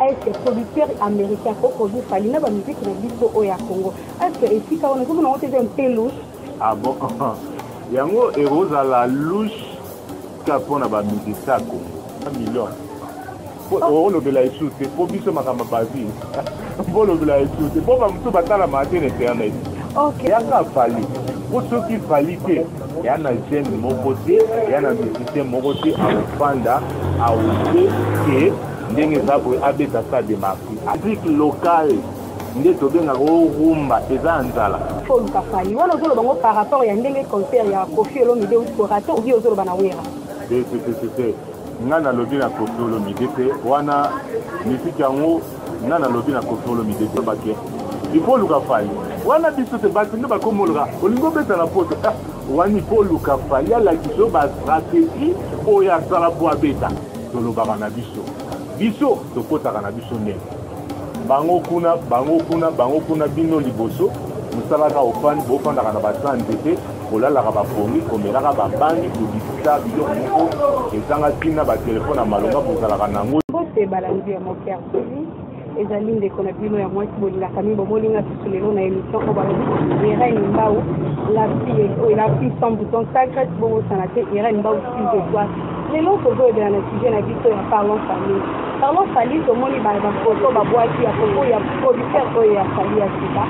est producteur américain ko produit fali na bamiziki na biso oyo ya congo est esika wana ezomona yango te eza mpe louche ah bon yango ekozala louche ka mpo na bamizika ya kongo million olobela esu te mpo biso makambo bazi mpo olobela esu te mpo bamosusu batalamaka te na internet yaka fali mpo soki fali te ya na jeune moko te ya na musicien moko te akofanda aote ke ndenge eza boye abeta sa demarki afrique locale nde tobengaka o rumba eza ya nzala fo luka fali wana ozoloba ngo par rapport ya ndenge concert ya kofi olomide outi korate obi ozoloba na wera tetete ngai nalobi na kofi olomide te wana misiki yango ngai nalobi na kofi olomide te bake ifo oluka fali wana biso te bato nde bakomoloka olingi obeta na poto ah, wani ifo oluka fali alakisa yo bastratégie oyo asala mpo abeta tolobaka na biso biso tokotaka na biso ndenge bango kuna bango kuna bango kuna bino liboso mosalaka ofandi bofandaka na basani nzete kolalaka bapongi komelaka babangi kobikisa biloko moko ezanga ntina batelefone ya malonga bozalaka na yango mbote balandi ya moker tv ezali ndeko na bino ya mwasi bolingaka mingi bomolinga susu lelo na émission oyo balobi irene mbau la fille oyo la fille sans bouton sacret bobosana te irene mbau fille de toi lelo tozoyebela na sujet na biso ya parlon famille Parlons Fally, tomoni ba ba photo ba boaki ya photo ya producteur oyo ya Fally ya sika.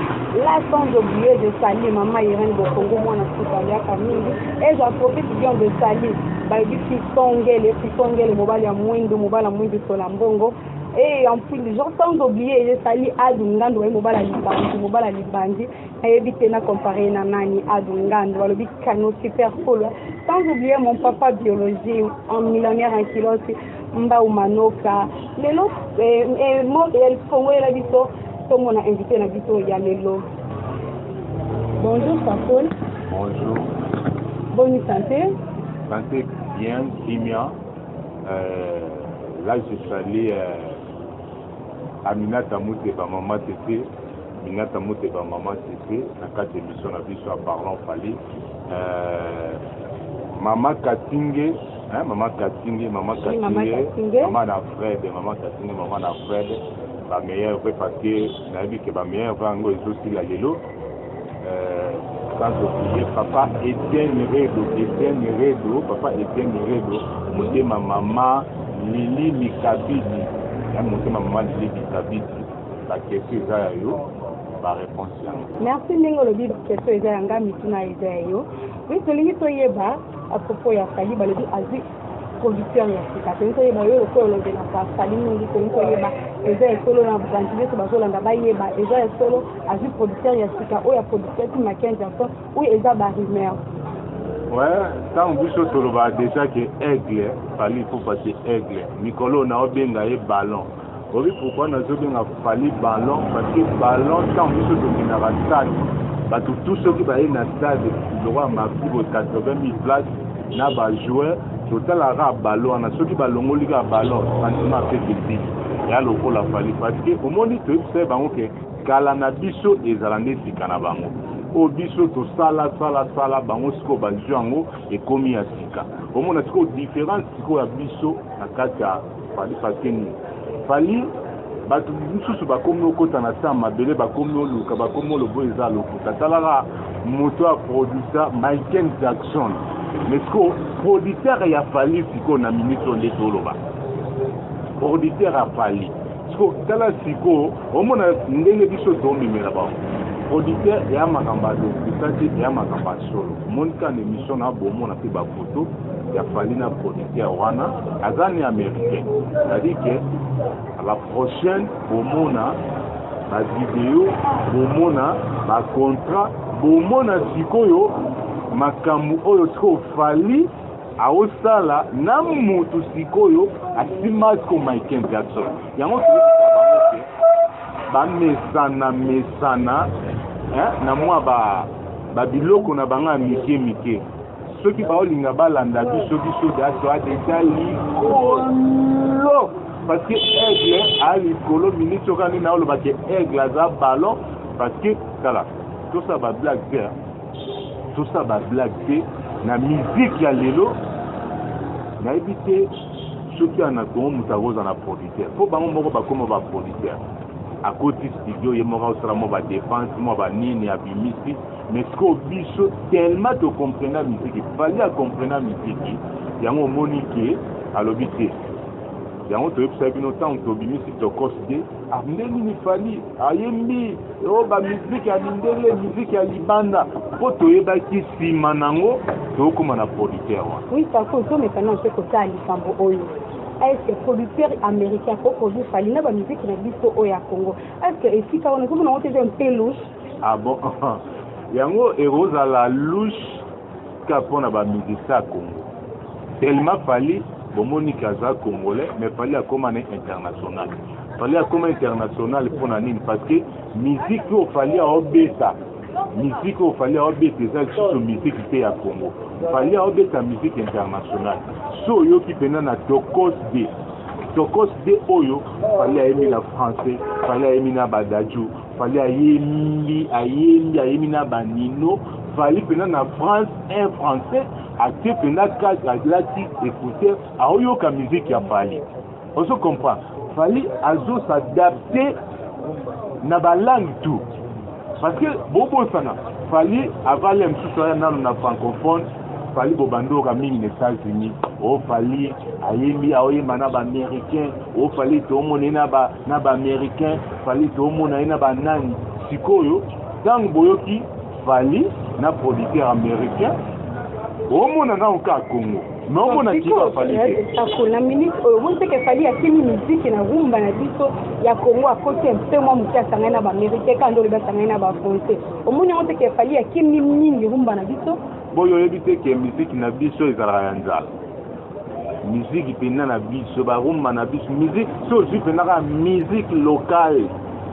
Là sans oublier de Sally, maman Irène Bokongo mwana sika aliaka mingi. Et j'en profite bien de Sally. Bayebi Fisongele, Fisongele mobali ya mwindu, mobali ya mwindu sola mbongo. Et en plus, genre sans oublier de Sally Adu Ngandu baye mobali ya libandi, mobali ya libandi. Nayebi te na comparer na nani Adu Ngandu, balobi canon super cool. Sans oublier mon papa biologie, un millionnaire en kilosi. mbau manoka lelo eh, eh, eh, kongo yela biso tomona invité na biso ya lelo bonjour fakol bonjour boni santé santé bien kimia euh, là je suis allé euh, à minata muteba mama tete minata muteba mama tete na kati émission na biso ya parlon fali euh, mama katinge Hein, maman Katinge, maman Katinge, maman Katinge, maman na Fred, maman Katinge, maman na Fred, ba meilleurs vrais parce que na dit que ba meilleurs vrais ngo ezo sila lelo. Euh, sans oublier papa Etienne Redo, Etienne Redo, papa Etienne Redo, motema maman Lili Mikabidi, hein, motema maman Lili Mikabidi, ba question eza ya yo. Merci ndenge olobi question eza ya nga mituna eza ya yo oui tolingi toyeba A propos ya Fally balobi azui producteur ya sika tolingi toyeba yo lokola olobelaka fali mingi tolingi toyeba eza ya solo na bandi nyonso bazolanda bayeba eza ya solo azwi producteur ya sika oyo ya producteur ti makenzi aso oyo eza barumeur ouais ntango biso tolobaka déjà ke aigle fali ipupa te aigle mikolo oyo naobenga ye ballon Oyebi pourquoi nazobenga Fally Ballon parce que Ballon ntango biso tokendaka stade bato tout soki baye na stade lokola mafi bo 80 000 place na bajoueur totalaka kaka ballon wana soki balongoli kaka ballon sentiment mpe kebisi ya lokola Fally parce que omoni toyebisa ye bango ke kala na biso ezala nde sika na bango oyo biso tosala sala sala bango sikoyo bazwi yango ekomi ya sika omona sikoyo différence sikoyo ya biso na kati ya Fally Fakeni. Fally bato mosusu bakomi okota na se ya mabele bakomi oluka bakomi olobo eza lokuta talaka moto ya produsa michael jackson mais siko producteur ya fali sikoyo na minute oyo nde toloba producteur ya fali siko tala sikoyo omona ndenge biso tomemela bango producteur eya makambo ya lokuta te eya makambo ya solo monika na émission na bomona mpe bafoto ya Fally na producteur wana aza ni américain c'est-à-dire que à la prochaine bomona ba video bomona ba contrat bomona sikoyo makambo oyo sikoyo Fally aosala na mutu sikoyo asimaki ko Michael Jackson yango bamesana mesana na mwa ba babiloko na bango ya mike mike soki baolinga balanda biso biso daso adeja likolo parce que aigle a likolo minute soki ani naoloba ke aigle aza ballon parce que tala tosala bablague te tosala bablague te na miziki ya lelo nayebi te soki ana kongo moto akozala na producteur mpo bango moko bakoma baproducteur akoti studio ye moko asala mwa badepense mwa banini abimisi Mais sikoyo biso tellement to comprena musique, Fally a comprena musique, yango omoni ke alobi te. Yango toyebisa bino ntango tobimisi tokos te, ah nde nini Fally ayembi o ba musique ya mindele, musique ya libanda, mpo toyebaki nsima nango tokoma na producteur wana. Oui, Paco, tomesana mpe kosala likambo oyo. est-ce que producteur américain ko produire Fally na ba musique na biso oyo ya Congo est-ce que esika wana ozomona yango te eza un peu louche Ah bon yango ekozala louche ka mpo na bamusicien ya Congo tellement Fally bomoni ke aza congolais mais Fally akoma na international Fally akoma international mpo na nini parce que musique oyo Fally aobeta musique oyo Fally aobeta eza lisusu musique te ya Congo Fally aobeta musique internationale so oyoki mpenza na Tokos de Tokos de oyo Fally ayemi na français Fally ayemi na badaju Fally ayembi ayembi ayembi na ba Nino Fally pena na France un français atie pena casque alati écouteur aoyoka musique ya Fally ozo comprendre Fally azo s'adapter na ba langue tout parce que bobosana Fally avale mosusu aya nano na francophone Fally bobandi oyoka mingi na Etats Unis o oh, Fally ayembi aoyemba na ba américain o oh, Fally toomona ye na ba na ba américain Fally toomona ye na ba nani sikoyo ntango boyoki Fally na producteur américain omona nao ka Congo mais omona kiba Fally te akona minute oyo omoni mpe ke Fally akimi miziki na rumba na biso ya Congo akoti mpe mwa moke asangani na ba américain kaka nde olobi asangani na ba français omoni yango mpe ke Fally akimi mingi rumba na biso boye oyebi te ke miziki na biso ezalaka ya nzala miziki mpenza na biso barumba na biso miziki so ozwi mpenza kaka miziki lokale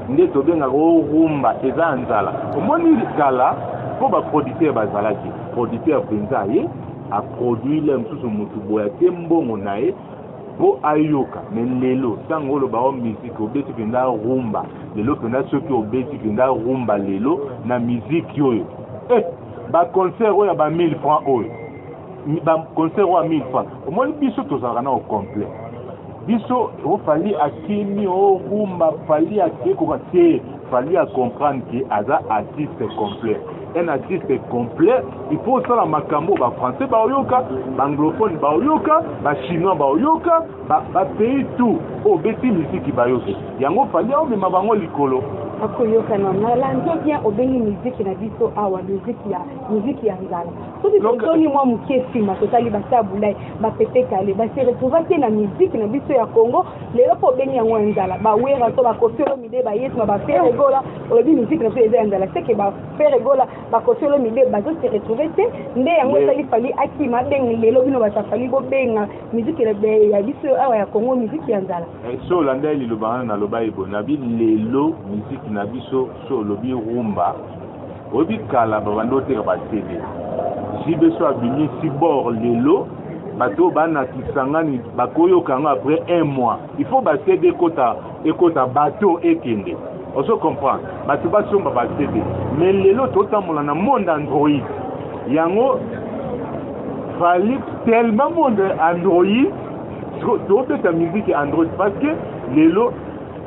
nde tobengaka orumba eza ya nzala omoni kala mpo baproducteur bazalaki producteur mpenza ye aproduit le mosusu motu boye ate mbongo na ye mpo ayoka me lelo ntango oloba o miziki obeti mpenza rumba lelo mpenza soki obeti mpenza rumba lelo na miziki oyo eh! ba concert oyo ya ba 1000 francs oyo ba concert oyo ya 1000 francs omoni biso tozalaka na au complet biso ofali oh, akimi orumba oh, fali ake koka te fali a comprendre ke aza artiste complet un artiste complet il faut osala makambo bafrançais baoyoka baanglophone baoyoka bachinois baoyoka ba ba pays tout oyo oh, beti misiki bayoki yango fali aomema bango likolo akoyokana na lando bien obengi miziki na biso awa miziki ya miziki ya nzala soki tozoni mwa moke nsima totali batabulai bapepe kale base retrouva te na miziki na biso ya congo lelo mpo obengi yango ya nzala bawera to bakosolo mide bayesma bafere gola olobi miziki na biso eza ya nzala seke bafere gola bakosolo mide bazo se retrouve te nde yango esali fali akima abengi lelo bino batafali bobenga Musique elebe ya biso awa ya Congo musique ya nzala. Eh, so olanda ye liloba wana naloba ebo na bi lelo musique na biso so olobi rumba oyebi kala babandi oteka ba CD jibe so abimi si bord lelo bato oyo bana kisangani bakoyoka yango après un mois il faut ba CD ekota ekota bateau ekende ozo comprendre bato basomba ba CD mais lelo totambola na monde android yango fali tellement monde android tobeta musique android parce que lelo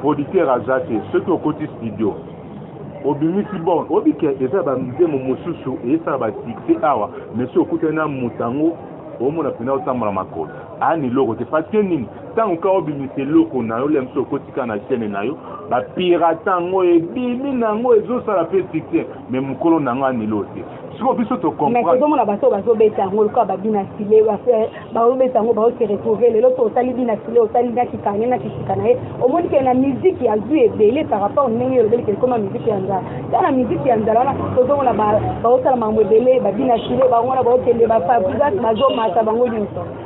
producteur aza te soki okoti studio obimisi bon oyebi ke eza bamizemo mosusu eyesaka basuccès awa mais soki okutani na moto yango omona mpena otambola makolo ani loko te parce que nini ntango kaka obimisa eloko na yo lia mosusu okotika na chaine na yo bapirata yango ebimi na yango ezosala mpe succès me mokolo na yango anilo te siko biso tokomprezomona bato bazobeta yango lokola babina sile eh, baobeta yango baose retrouve lelo to otali bina sile otali na kikane na kisika na ye omoni ke na miziki azwi ebele par rapport ndenge olobeli ke ekoma miziki ya nzala ta na miziki ya nzala wana tozomona baosala makambo ebele babina sile bango wana baokende bafabrigas bazomata bango nyonso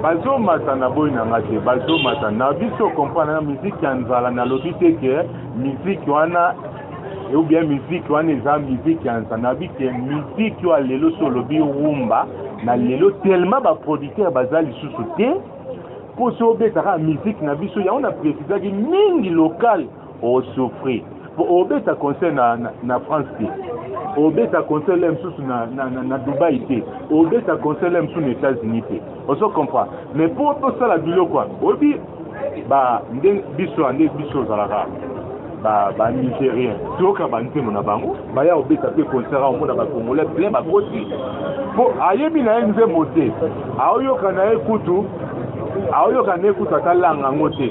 bazomata na boyi na nga te bazomata na biso comprendre na miziki ya nzala nalobi te ke miziki wana ou bien miziki wana eza miziki ya nzala nabi te miziki oyo lelo so olobi rumba na lelo tellement baproducteur baza lisusu te mpo so obetaka miziki na biso yango na precisaki mingi lokale osouffrir po obeta concert na, na, na france te obeta concert le mosusu na, na, na, na dubai te obeta concert le mosusu na états-unis te ozo comprend mais po tosala biloko wana oyebi ba nde biso ya nde biso ozalaka banigérien ba toyoka banzembo na bango baya kobeta mpe concert omona bacongolais plein bakoti mpo ayebi na ye nzembo te aoyoka na ye kutu aoyoka na ye kutu ata langa yango te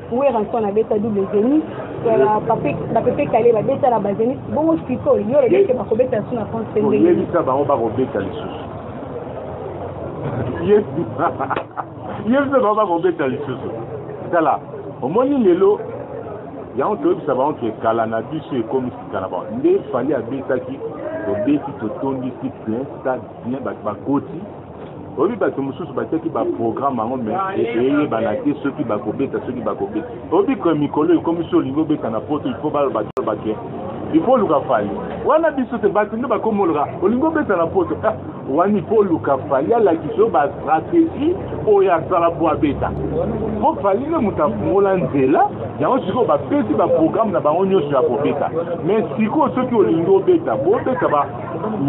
Werrason abeta double zenith bapepe kale babeta na bazenith bongo sikoyo yo olobi ete bakobeta lisusu na france mpe ndenge oyebisa bango bakobeta lisusu yebisa bango bakobeta lisusu tala omoni lelo yango toyebisa bango ke kala na biso ekomi sika na bango nde fali abetaki tobeti totondisi plein stade plein bato bakoti oyebi bato mosusu batiaki baprograme yango me eyebana te soki bakobeta soki bakobeta oyebi ke mikolo ekomi so olingi obeta na poto il faut baloba toloba ke il faut oluka fali wana biso te bato nde bakomi oloka olingi obeta na poto ah, wana il faut oluka fali alakisa yo bastratégie oyo asala po abeta po fali nde moto afungola nzela yango sikoyo bapesi baprograme na bango nyonso ya kobeta mais sikoyo soki olingi obeta bobeta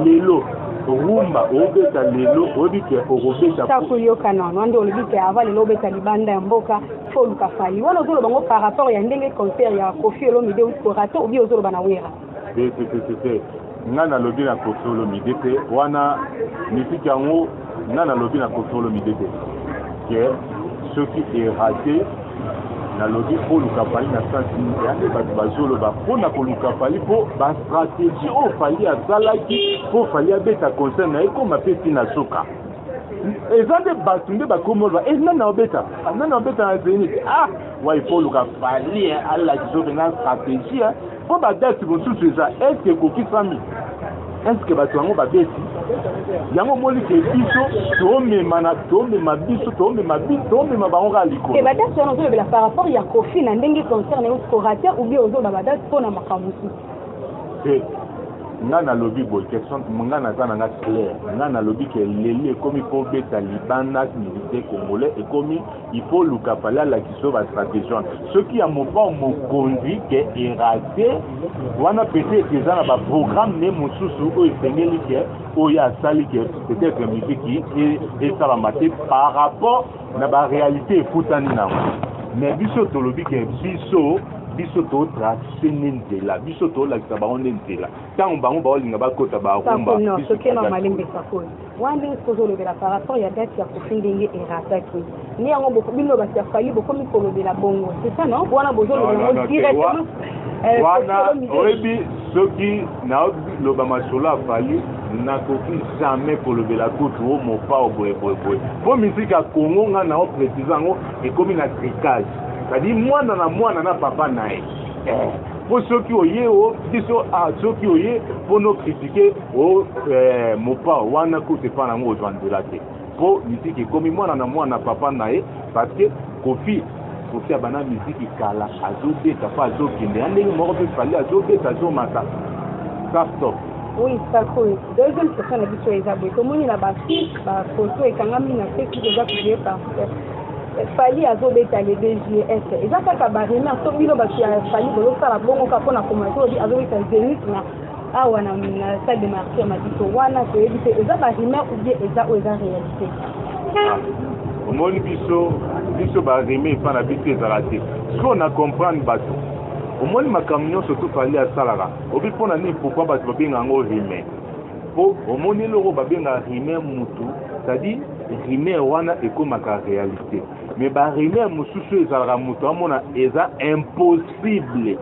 lelo rumba obeta lelo oyebi ke okobeta ta koyokana wana nde olobi ke ava lelo obeta libanda ya mboka fo oluka fali wana ozoloba ngo par rapport ya ndenge concert ya kofi olomide outi korate obi ozoloba na wera te te te te ngai nalobi na kofi olomide te wana misiki yango Nga nalobi na Koffi Olomide te ke soki erate nalobi oluka fali na sansi nini ya nde bato bazoloba mpo na koluka fali mpo bastratégie oyo oh, fali asalaki mpo fali abeta concert na ye koma mpe ti na suka eza nde bato nde bakomi oloba e eh, nani aobeta ah, nani aobeta na zenit ah wai mpo oluka fali eh, alakisa ope na stratégie eh. Mpo badati mosusu eza eske ekokisami eske bato yango babeti yango omoni ke biso tomemana tomema biso tomema biso tomema bango kaka likolo eh, badate wana ozolobela par rapport ya kofi na ndenge concert na yo scorate oubien ozoloba badate mpo na makambo mosusu eh, nga nalobi boye question nga naza na nga claire nga nalobi ke leli ekomi kobeta libanda musicien congolais ekomi il faut luka fale alakisa yo bastratégie wana soki ya mopao mokonzi ke erate wana peut-être eza na baprogramme ne mosusu oyo esengeli ke oyo asali ke peut-être miziki esalama te par rapport na baréalité ekutani nango mais biso tolobi ke biso biso totrace nde nzela biso tolakisa bango nde nzela ntango bango baolinga bakota barumba Wana ndenge soki ozolobela par rapport ya date ya kofi ndenge erataki nde yango bino bato ya fali bokomi kolobela bongo c'est ça non wana bozolobela yango directement euh, wana oyebi soki naloba masolo ya fali nakoki jamais kolobela kutu o mopao boyeboyeboye mpo miziki ya kongo ngai nao précise yango ekomi na tricage cetadi mwana na mwana na papa na ye eh, mpo soki oye o biso ah, soki oye mpo nokritike o eh, mopao wana kutu epai nango ozwa nzela te mpo miziki ekomi mwana na mwana papa na ye parce que kofi kofi abanda miziki kala azobeta mpo azokende ya ndenge moko mpe fali azobeta azomata sastop oui sakoy deuxième question na biso eza boye tomoni na bafilme bafoto ekangami na facebook eza publie par fali azobeta le bgs eza kaka baremar to bino bato ya fali bozosala bongo kaka mpo na komatobi azobeta zenit na awa na salle de marché ya mabiso wana toyebi te eza barumeur ou bien eza oyo eza réalité ah, omoni biso biso barime epa na biso ezala te sikoyo na comprendre bato omoni makambo nyonso tofali asalaka obi mpo na nini pourkui bato babenga yango rime mpo omoni eloko babenga rime mutu cetadire rime wana ekomaka réalité mais barime mosusu ezalaka moto amona eza impossible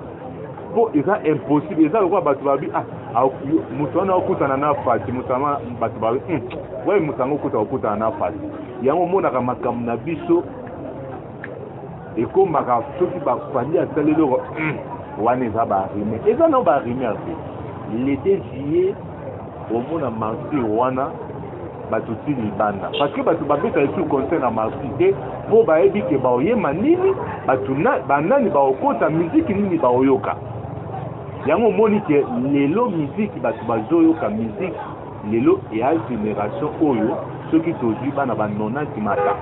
mpo eza impossible eza lokola bato babi ah, ah, moto wana okutana na fati moto wana bato babi hmm, waye moto yango okuta okutana na fati yango omonaka makambo na biso ekomaka soki bafandi asali eloko hmm, wana eza barime eza nao barime ase lete juillet omona martir wana bato ti libanda parce que bato babeta esu concert na marsi te mpo bayebi ke baoyema nini bato banani baokota miziki nini baoyoka yango omoni ke lelo miziki bato bazoyoka miziki lelo eya generation oyo soki tozwi bana ba 90 mata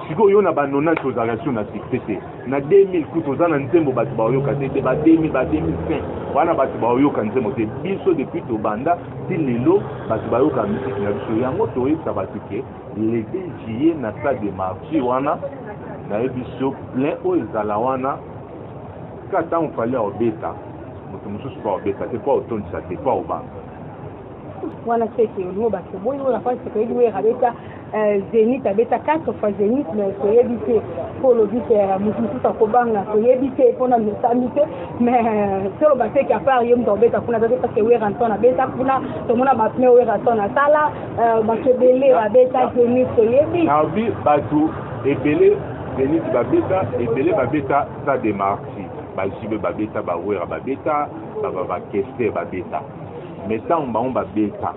sikoyo yo na ba 90 ozalaka sur na succès te na 2000 kutu oza na nzembo bato baoyoka te te ba 2000 ba 2005 wana bato baoyoka nzembo te biso depuis tobanda Ti lelo bato bayoka musique na biso yango toyebisa bato ke le 2 juillet na stade de martyr wana nayebi biso plein oyo ezala wana ka ntango fali aobeta moto mosusu mpo aobeta te mpo aotondisa te mpo aobanga wana seke olingo bato boyi oyo na fasi toyebi wera beta Eh, zenith abeta 4 fois zenith me toyebi te mpo olobi te eh, moto mosusu akobanga toyebi te mpo na mesambi te mais eh, toloba te ke apart ye moto akobeta kuna te parce que weraton abeta kuna tomona bapne weraton asala bato ebele babeta zenith toyebi nabi bato ebele zenith babeta ebele babeta stade de marti bajibe babeta bawera babeta bakester babeta mais ntango bango babeta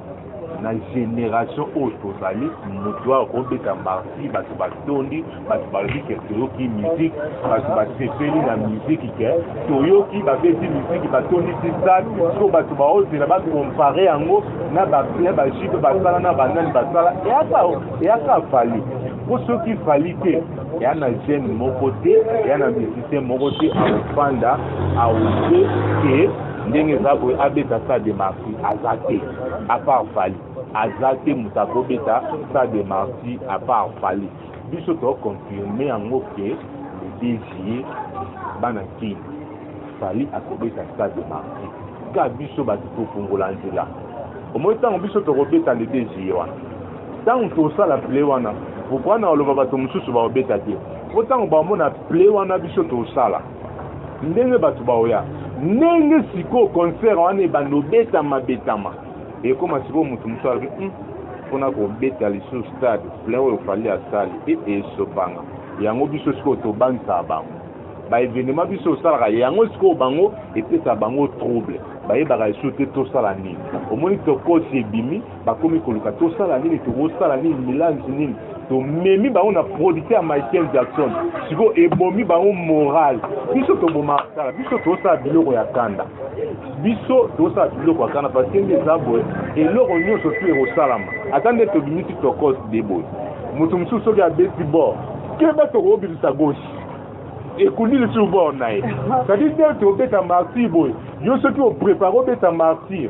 na generation oyo tozali moto oyo akobeta marti bato batondi bato balobi ke toyoki miziki bato basepeli na miziki ke toyoki babeti miziki batondisi stade so bato baozela bakompare yango na baplein bajipe basala na banani basala eyaka fali mpo soki fali te eya na jeune moko te eya na musicien moko te akofanda aoke ke ndenge eza boye abeta sa de marti aza te apart fali aza te moto akobeta sa de marti apart fali biso toconfirme yango ke le desie bana kin fali akobeta sa de marti ka biso bato tofungola nzela omoi ntango biso tokobeta le desie wana ntango tosala ple wana pourkoi na oloba bato mosusu bakobeta te mpo ntango bamona ple wana biso tosala ndenge bato baoya ndenge sikoyo concert wana ebanda obetama betama ekoma sikoyo moto mosusu alobi hmm, mpona kobeta lisusu stade plein oyo fali asali e esopanga yango biso sikoyo tobangisaka bango baevenema biso osalaka yango sikoyo bango epesaka bango trouble bayebaka lisusu te tosala nini omoni tokosi ebimi bakomi koluka tosala nini tokosala nini milanzi nini tomemi bango na producteur ya michael jackson sikoyo ebomi bango moral biso tobomaka kala biso tosala biloko ya kanda biso tosala biloko ya kanda parce nde eza boye eloko nyonso tu ekosalama ata nde tobimisi tokos de boye moto mosusu soki abeti bor keba tokobimisa goshi ekundi lisusu bor na ye cetadire nde tobeta martyr boye yo soki oprepare obeta martyr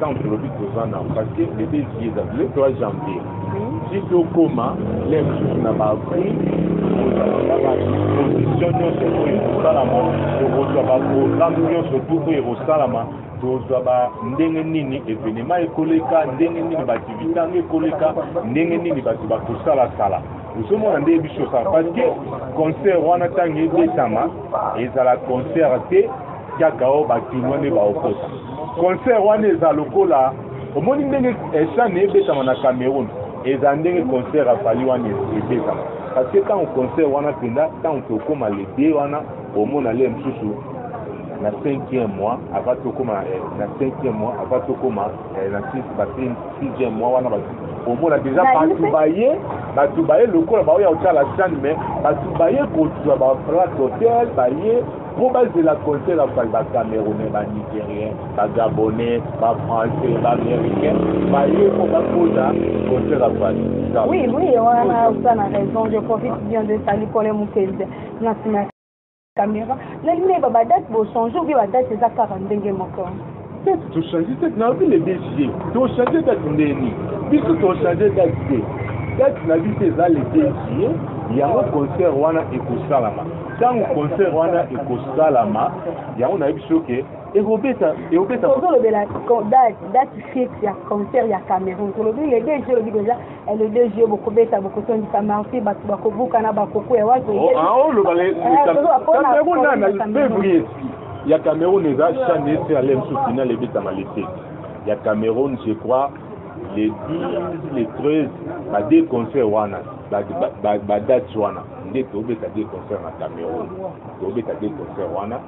Tant que lobi toza na parce que le désir est le 3 janvier. Si to koma les sous na ba prix na ba disposition nyonso oyo ekosalama tokozwa ba programme nyonso tu oyo ekosalama tozwa ba ndenge nini evenema ekoleka ndenge nini baaktivité yango ekoleka ndenge nini bato bakosalasala ozomona nde biso osala parce que concert wana ntango ebetama ezala concert te Kaka o ba kinois nde ba okota. Concert wana eza lokola omoni ndenge chane eh, ebetama na Cameroun eza ndenge concert ya Fally wana ebetama parce que ntango concert wana mpenza ntango tokoma le 2 wana omona le mosusu na 5e mois ava tokoma eh, na 5e mois ava tokoma eh, na 6e mois wana omona deja bato baye bato baye lokola baoya kotala chane mais bato baye kozwa baplate hotel baye po bazela concert ya fali bacamerounais banigérien bagabonais bafrançais baaméricain baye po bakoza concert ya fali oui oui wana oza na raison je profite bien de sali pole mokezi na nsima ya caméra nalingi nayeba badate bochange obi badate eza kaka ndenge moko Peut-être to changer date na lobi le 2 juillet to changer date ndeni biso to changer date te date na biso eza le 2 juillet yango concert wana ekosalama ntango concert wana ekosalama yango nayebi biso ke ekobeta ekobeta tozolobela date fixe ya concert ya cameroun tolobi le 2 juillet olobi deja le 2 juillet bokobeta bokotondisa marti bato bakobuka na bakuku ya wapi oloba fevrier ya cameroun eza chane esi alem su final ebetama lete ya cameroun je crois le 10 le 13 ba deux concert wana badate wana nde tobeta deux concert na cameroun tobeta deux concert wana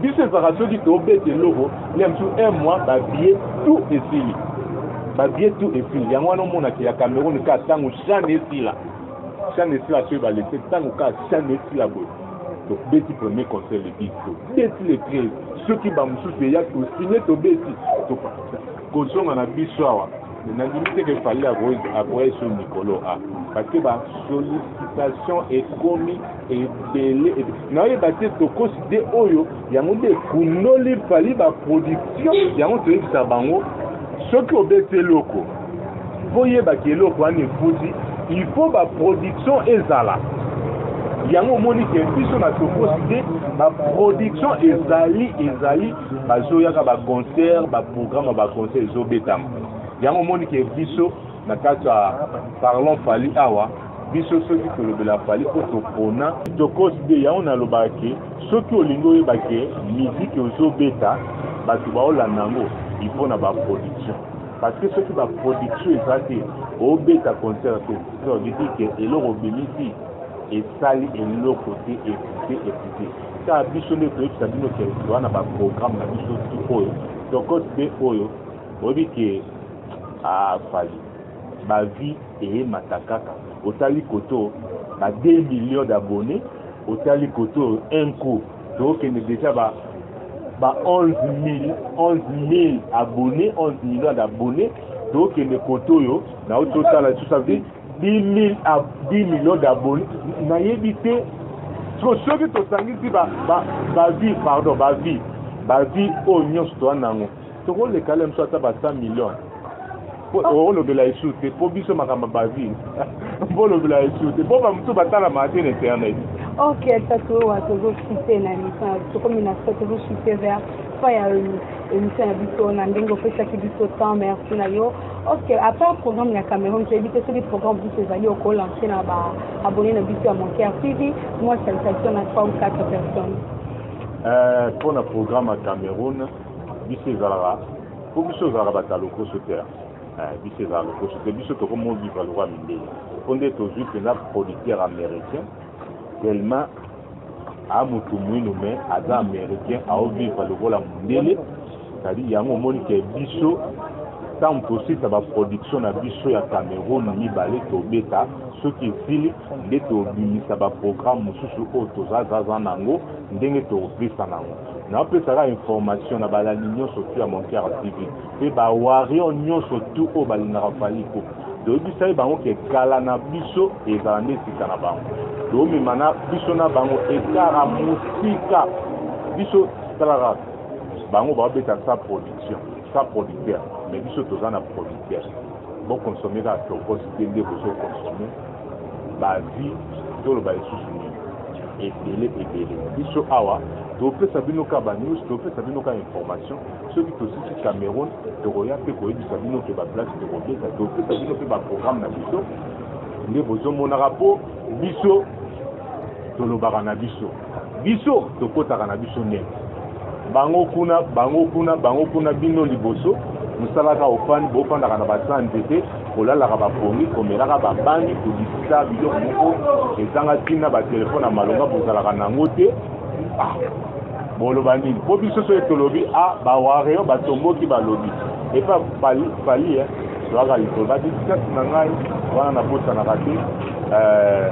Biso ezalaka soki tobeta eloko ya mosusu un mois babie tout esili babie tout esili yango wana omonaka ya Cameroun ka ntango shane esila shane esila soki balese ntango ka shane esila boye tobeti premier conseil le 10 tobeti le 13 soki bamosusu eya tosigne tobeti kozonga na biso awa nandimi te ke fali akoya sur mikolo a parce que ba sollicitation ekomi ebele nayeba te tokosi de oyo yango nde ekundoli fali ba production yango toyebisa bango soki obeti eloko mpo oyebaki eloko wana efuti il faut ba production ezala yango omoni ke biso na tokosi te ba production ezali ezali bazoyaka ba concert ba programme ya ba concert ezobetama yango omoni ke biso na kati ya parlon fali awa biso soki tolobela fali mpo topona tokosi de yango nalobaka ke soki olingi oyeba ke miziki ozobeta bato baolanda yango ipo na baproduction parce que soki baproduction eza te obeta concert te sodiki ke eloko obimisi esali eloko te ekute ekute Ka biso nde toyebisa bino ke toza na baprogramme na biso ti oyo tokote mpe oyo boyebi ke afali ah, bavie eyemata kaka otali koto ba 2 million d'abonné otali koto un coup tokende deja ba ba 11 000 11 000 abonné 11 million d'abonné tokende koto oyo nauti otala lisusu 10 millions d'abonnés nayebi te siko soki tosangisi bavie pardon bavie bavie oyo nyonso toza nango tokoleka le mosu ata ba 100 millions olobela esu te mpo biso makambo ya bavie mpo olobela esu te mpo bamosusu batalamaka te na internet ok ata toyowa tozosite na émission tokomi na so tozosite vers fin ya émission na biso na ndenge opesaki biso temps merci na yo Ok, à part programme ya Cameroun, toyebi te soki programme biso ezali okolancer na ba abonné na biso ya Moncaire TV, moi salutation na 3 ou 4 personnes. Euh, mpo na programme ya Cameroun, biso ezalaka mpo biso ezalaka bato ya lokoso te eh, biso ezala lokoso te biso tokomo biva lokwa mindele mpo nde tozwi mpenza producteur américain tellement a mutu mwinu me aza americain aovivre lokola mondele cetadi yango omoni ke biso ntango tosilisa baproduction na biso ya cameroun mibale tobeta soki esili nde tobimisa baprogramme mosusu oyo tozazaza na yango ndenge tokopesa na yango napesaka information na balandi nyonso tu ya montiara tv mpe bawarior nyonso tu oyo balingaka faliko toyebisaki bango ke kala na biso ezala nde sika na bango toomema na biso na bango ekara mosika biso talaka bango baobeta sa production sa producteur mais biso toza na producteur bokonsome kaka tokos te nde bozokonsome bavi toloba lisusu nini ebele ebele biso awa topesa bino ka banews topesa bino ka information Soki tosisi Cameroun, tokoya mpe koyebisa bino mpe ba place tokobeta, topesa bino mpe ba programme na biso nde bozomonaka mpo biso tolobaka na biso biso tokotaka na biso neti bango kuna bango kuna bango kuna bino liboso mosalaka ofandi bofandaka na baza nzete kolalaka bapongi komelaka babangi kobikisa biloko moko ezanga ntina batelefone ya malonga bozalaka nango te ah. Boloba nini? Po biso soki tolobi a ah, ba warrior batomboki balobi epa pali pali eh toyaka likolo ba dédicace na ngai wana nabosanaka te euh,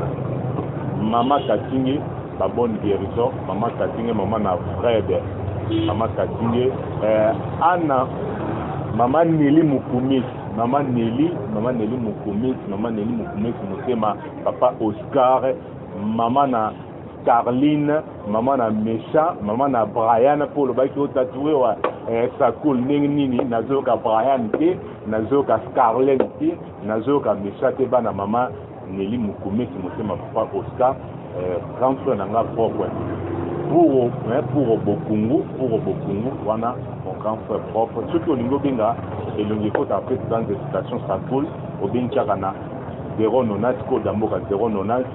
mama katinge ba bonne guérison mama katinge mama na fred mama katinge euh, ana mama neli mokumisi mama neli mama neli mokumisi mama neli mokumisi motema papa oscar mama na Carline, maman na Mesha, maman na Brian, Paul Baki au tatoué wa eh, Sakul ndenge nini nazoyoka Brian te, nazoyoka Scarlett te, nazoyoka Mesha te bana maman Nelly Mukumesi motema papa Oscar, eh, grand frère na nga propre. Pour eh, pour Bokungu, pour Bokungu wana mon grand frère propre. Soki olingi obenga elongi ekota après dans des citations Sakul, obengi kaka na 090 koda mboka 090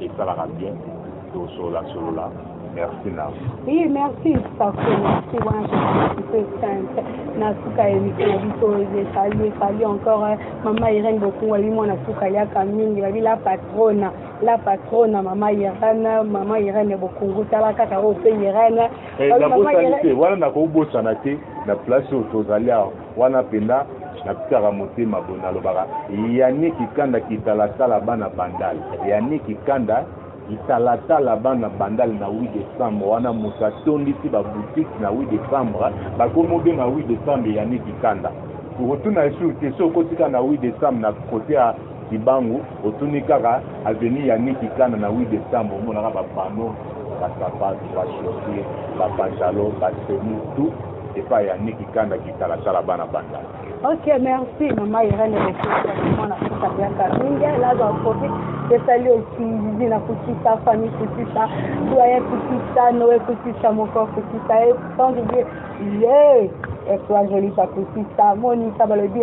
esalaka bien tosolola solola merci na oui merci pako merci wana tope sainte na suka ya émission na biso ezali efali encore eh, mama irene bokungu abi mwana suka aliaka mingi babi la patrona la patrona mama irene mama irene bokungu tala kaka oyo mpe irene eh, wana nakobosana te na place oyo tozali awa Wana mpenza natikaka motema boye nalobaka Yannick Kanda kitalatala bana bandal Yannick Kanda kitalatala bana bandal na 8 décembre wana moto atondisi baboutique na 8 décembre bakomi obenga 8 décembre Yannick Kanda okotuna esu te so okotika na 8 décembre na kote ya Kibangu otuni kaka avenue ya Niki Kana na 8 decembre omonaka ba panneaux, ba sapatu, ba chaussures, ba pantalons, ba tenues, tout epai ya Niki Kanda kitalatala bana bandal. Ok, merci maman Irène Lekesakuma na kuta biaka mingi naza kofi esali osingizi na kutisa famille kutisa doyen kutisa noe kutisa moko kutisa e sans oublier ye etoile jolisa kutisa monisa balobi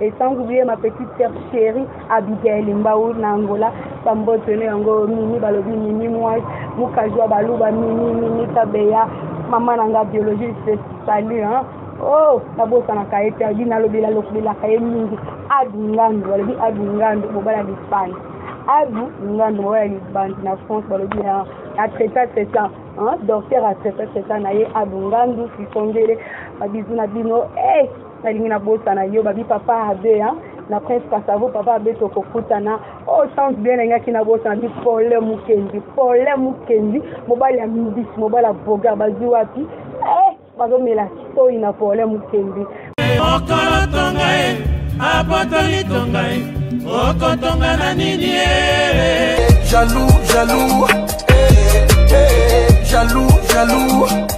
Et sans oublier ma petite sœur chérie Abigail Mbao na Angola, bambote ne yango mimi balobi mimi mwasi mukajua baluba mimi mimi tabeya mama na nga biologie se salut hein oh nabosanaka ye te abi nalobela lobelaka ye mingi adu ngandu balobi adu ngandu mobala lisbane adu ngandu mobala lisbane na france balobi na atraita traita docteur atraita traita na ye adu ngandu sisongele babizu na bino hey! Eh, nalingi nabosana yo babi papa abe hein? na prince kasavo papa abe tokokutana o oh, chance bien nalingaki nabosana bi pole mukendi pole mukendi mobali ya mbisi mobali ya bogar bazwi wapi eh, bazomela toi na pole mukendi mokolo tonga ye apotoli tonga ye okotonga na nini ye jalou jalou eh, eh, eh, jalou jalou